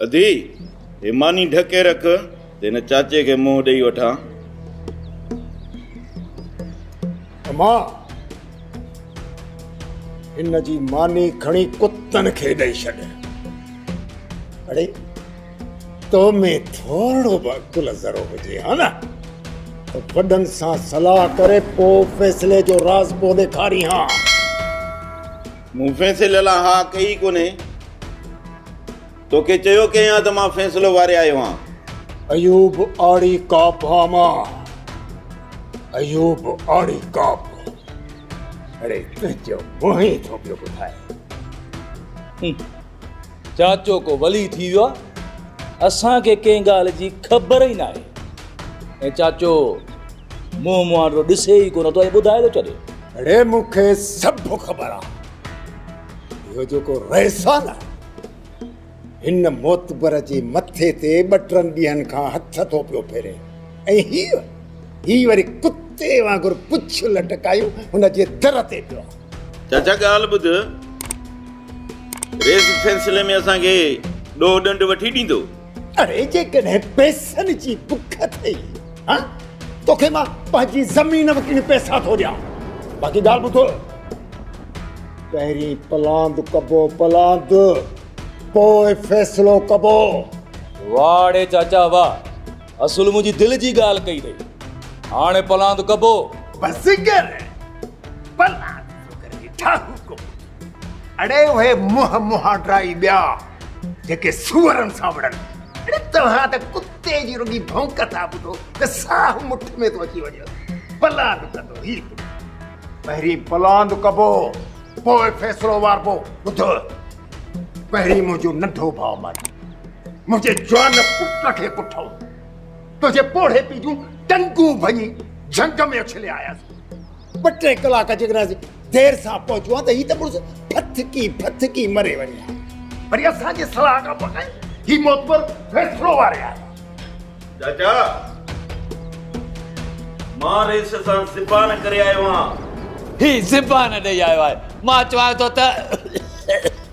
ادي! هي ماني ڍڪي رک ته هن چاچي کي منهن ڏئي وٺان. اما! هن جي ماني کڻي ڪتن کي ڏئي ڇڏ. اڙي! تو ۾ ٿورڙو به عقل ذرو هجي ها نه ته وڏن سان صلاح ڪري پوء فيصلي جو راز پيو ڏيکارين ها. مون فيصلي لاء ها ڪئي ئي ڪونهي. توکي چيو ڪنهن آ ته مان فيصلو واري آيو آن. ايوب آڙي ڪاپ آ مان. ايوب آڙي ڪاپ. اڙي تنهنجو منهن ئي ٿو پيو ٻڌائي. هه چاچو ڪو ولي ٿي ويو آ. اسان کي ڪنهن ڳالهه جي خبر ئي ناهي. ۽ چاچو منهن مهانڊو ڏسي ئي ڪونه ٿو ۽ ٻڌائي ٿو ڇڏي. اڙي مون کي سڀ خبر آ. اهو جيڪو رئيس آ نه هن معتبر جي مٿي تي ٻه ٽن ڏينهن کان هٿ ٿو پيو ڦيري ۽ هي هي وري ڪتي وانگر پڇ لٽڪايون هن جي در تي پيو چاچا ڳالهه ٻڌ رئيس سلسلي ۾ اسان کي ڏوهه ڏنڊ وٺي ڏيندو اڙي جيڪڏهن پئسن جي بک اٿئي ها توکي مان پنهنجي زمين وڪڻي پئسا ٿو ڏيان باقي ڳالهه ٻڌو پهرين پلاند ڪبو پلاند پوء فيصلو ڪبو واڙي چاچا واهه اصل منهنجي دل جي ڳالهه ڪئي اٿئي هاڻي پلاند ڪبو بس ڪر پلاند جو ڪري ٺاهو ڪبو اڙي اهي منهن مهانڊا ئي ٻيا جيڪي سوئرن سان وڙهن. اڙي توهان ته ڪتي جي رڳي ڀونڪ ٿا ٻڌو ته ساهه مٺ ۾ ٿو اچي وڃيو. پلاند ڪندو هي ڪو. پهرين پلاند ڪبو پوء فيصلو واربو. ٻڌو پهرين منهنجو ننڍو ڀاء ماري منهنجي جوان پٽ کي ڪٺئو. تنهنجي پوڙهي پي جون ٽنگون ڀڃي جهنگ ۾ اڇلي آياسين. ٻه ٽي ڪلاڪ جيڪڏهن اسين دير سان پهچون ها ته هي ته مڙس ڦٿڪي ڦٿڪي مري وڃي ها وري اسان جي صلاح کان بغير هي معتبر فيصلو واري آهي چاچا مان ريس سان زبان ڪري آيو آهيان هي زبان ڏئي آيو آهي مان چوان ٿو ته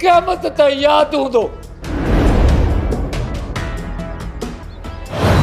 قيامت تائين ياد هوندو.